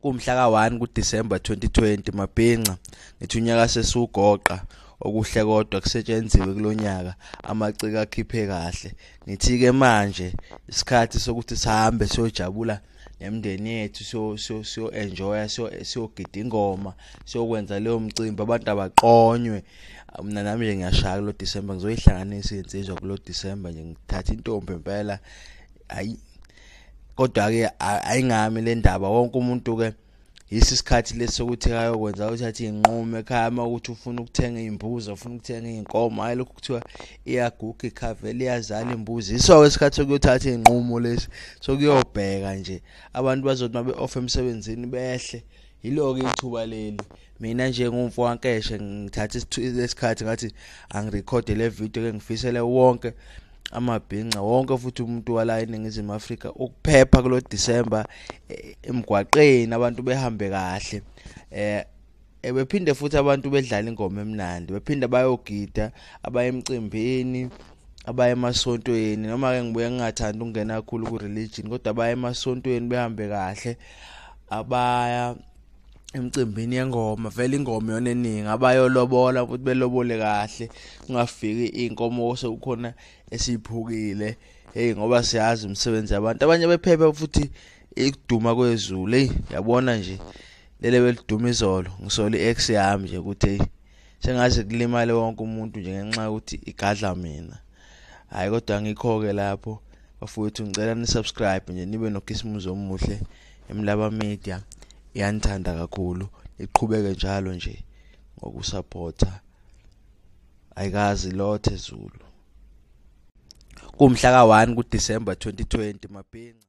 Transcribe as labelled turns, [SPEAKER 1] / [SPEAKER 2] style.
[SPEAKER 1] kumhla ka-1 kuDisemba 2020 mabhinca ngithi unyaka sesiwugoqa okuhle kodwa kusetshenziwe kulo nyaka amaciko akhiphe kahle ngithi-ke manje isikhathi sokuthi sihambe siyojabula nemndeni yethu siyo-enjoya siyogida ingoma siyokwenza leyo mcimbi abantu abaqonywe mina nami nje ngiyashaya kulo disemba ngizoyihlanganisa iy'nsizwa kulo disemba nje ngithatha intombi impela hhayi kodwa ke ayingami le ndaba wonke umuntu ke yisi isikhathi lesokuthi ayokwenza uthathe inqumo ekhaya uma ukuthi ufuna ukuthenga imbuzi ufuna ukuthenga inkomo hayi lokho kuthiwa iyaguga ikhaveli iyazala imbuzi iso isikhathi sokuyothatha inqumo lesi sokuyobheka nje abantu bazothi mabe off emsebenzini behle yiloke ithuba leli mina nje ngumfo wankeshe ngithatha isikhathi ngathi angirekhode le video ke ngifisele wonke amabhinca wonke futhi umuntu wala eningizimu Afrika ukuphepha kulo December eh, emgwaqeni abantu behambe kahle eh, eh bephinde futhi abantu bedlala ingoma emnandi bephinde bayogida abayemcimbini abaya emasontweni noma ke ngibuye ngingathandi ukungena kakhulu ku religion kodwa abaya emasontweni behambe kahle abaya emcimbini yengoma vele ingoma yona eningi abayolobola futhi belobole kahle kungafiki inkomo sekukhona esiyiphukile hey ngoba siyazi umsebenzi abantu abanye bephephe futhi ikuduma kwezulu hey yabona nje lele beliduma izolo ngisole i-ex yami nje ukuthi hey sengaze kulimale wonke umuntu nje ngenxa yokuthi igadla mina hhayi kodwa angikho-ke lapho bafowethu ngicela nisubscribe nje nibe nokhisimuzi omuhle emlaba media iyanithanda kakhulu iqhubeke njalo nje ngokusaphotha ayikazi lothe zulu kumhla ka-1 kudisemba 2020 mabhinca